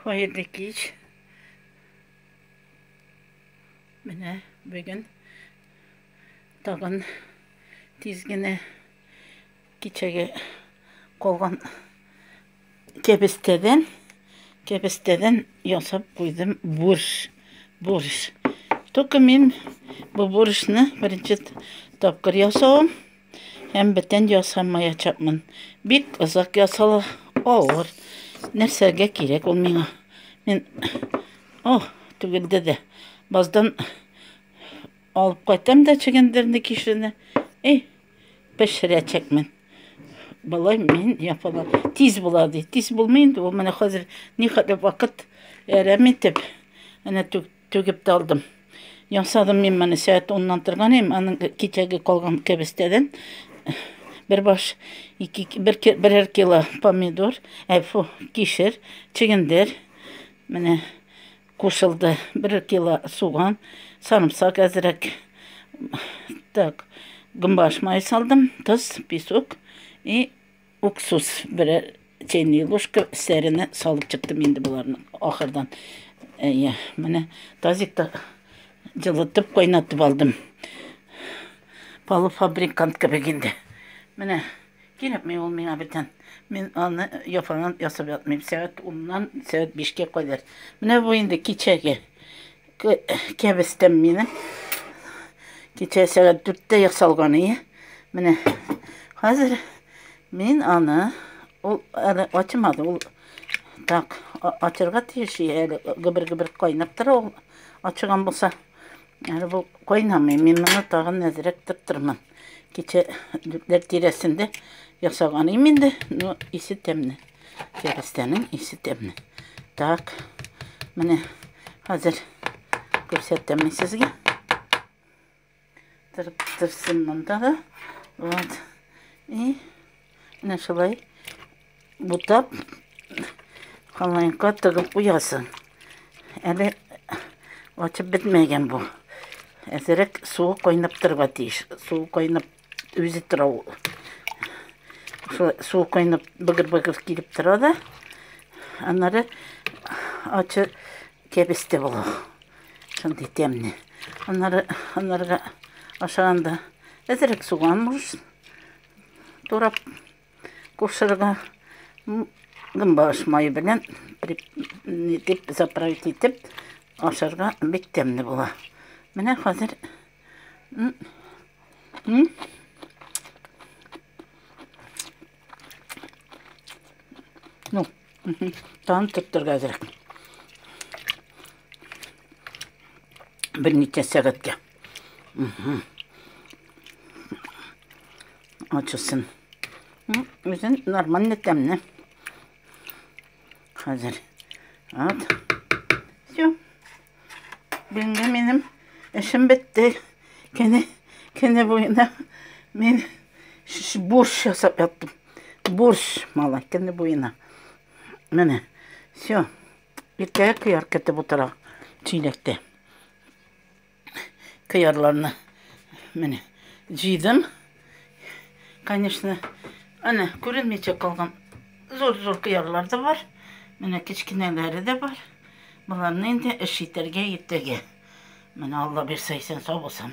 Хәерле кич. Менә бүген тагын тиз генә кичәге калган кәбестәдән кәбестәдән ясап куйдым борщ. Борщ. Только мин бу борщны беренче тапкыр ясавым. Һәм бетен ясамаячакмын. Бик озак ясала, авыр. Нәрсәгә кирәк ул миңа? Мин О, түгелде дә. Баздан алып кайтам да чегендерне кишене. Эй, пешерәчәкмен. Былай мин япала. Тиз була ди. Тиз булмый инде. Ул менә хәзер ни хәтле вакыт әрәм итеп. Әнә түк Түгеп тә алдым. Ясадым мин моны сәгать оннан торган идем, аның кичәге калган кәбестәдән бер баш, ике, бер, берәр кило помидор, әфу, кишер, чегендер, менә кушылды, бер кило суган, сарымсак әзрәк, так, гүмбаш май салдым, тоз, песок и Уксус бер чәйный ложка сәренә салып чыктым инде боларны ахырдан. Әйе, менә тазикта җылытып кайнатып алдым. Полуфабрикант кебек инде. Менә кирәкми ул миңа бүтән. Мин аны яфанан ясап ятмыйм. Сәгать 10-нан сәгать 5-кә кадәр. Менә бу инде кичәге. Кәбестәм минем. Кичә сәгать дүрттә ясалган ие. Менә хәзер мин аны ул әле ачмады. Ул так ачырга тиеш әле гөбер-гөбер кайнап тора ул. Ачыган булса, әле бу кайнамый. Мин моны тагын нәзерәк тыртырмын. Кичә дүртләр тирәсендә ясаган именде, но исе тәмне. Кәрестәнең исе тәмле. Так, менә хәзер күрсәтәм мин сезгә. Тырып тырсын монда да. Вот. И менә шулай бутап халайка тыгып куясың. Әле ачып бетмәгән бу. Әзерәк суы кайнап торырга тиеш. Суы кайнап Үзе тора ул. Шулай су кайнап быгыр-быгыр килеп тора да. Аннары ачы кәбестә була. Шундый тәмне. Аннары анарга ашаганда әзрәк суган муж турап кушырга гымбаш май белән дип заправить итеп ашарга бик тәмне була. Менә хәзер М -м. Ну, таны тоттырга әзрәк. Бер ничә сәгатькә. Ачылсын. Үзен нормально тәмне. Хәзер. Вот. Бүгенге минем эшем бетте. Кене, кене буена мин борщ ясап яттым. Борщ, малай, кене буена. Менә, все. Иртәгә кыяр кәтеп утыра чиләктә. Кыярларны, менә, җыйдым. Конечно, әнә күренмичә калган зур-зур кыярлар да бар. Менә кечкенәләре дә бар. Боларны инде эш итәргә иртәгә. Менә Алла бирсә исән сау булсам.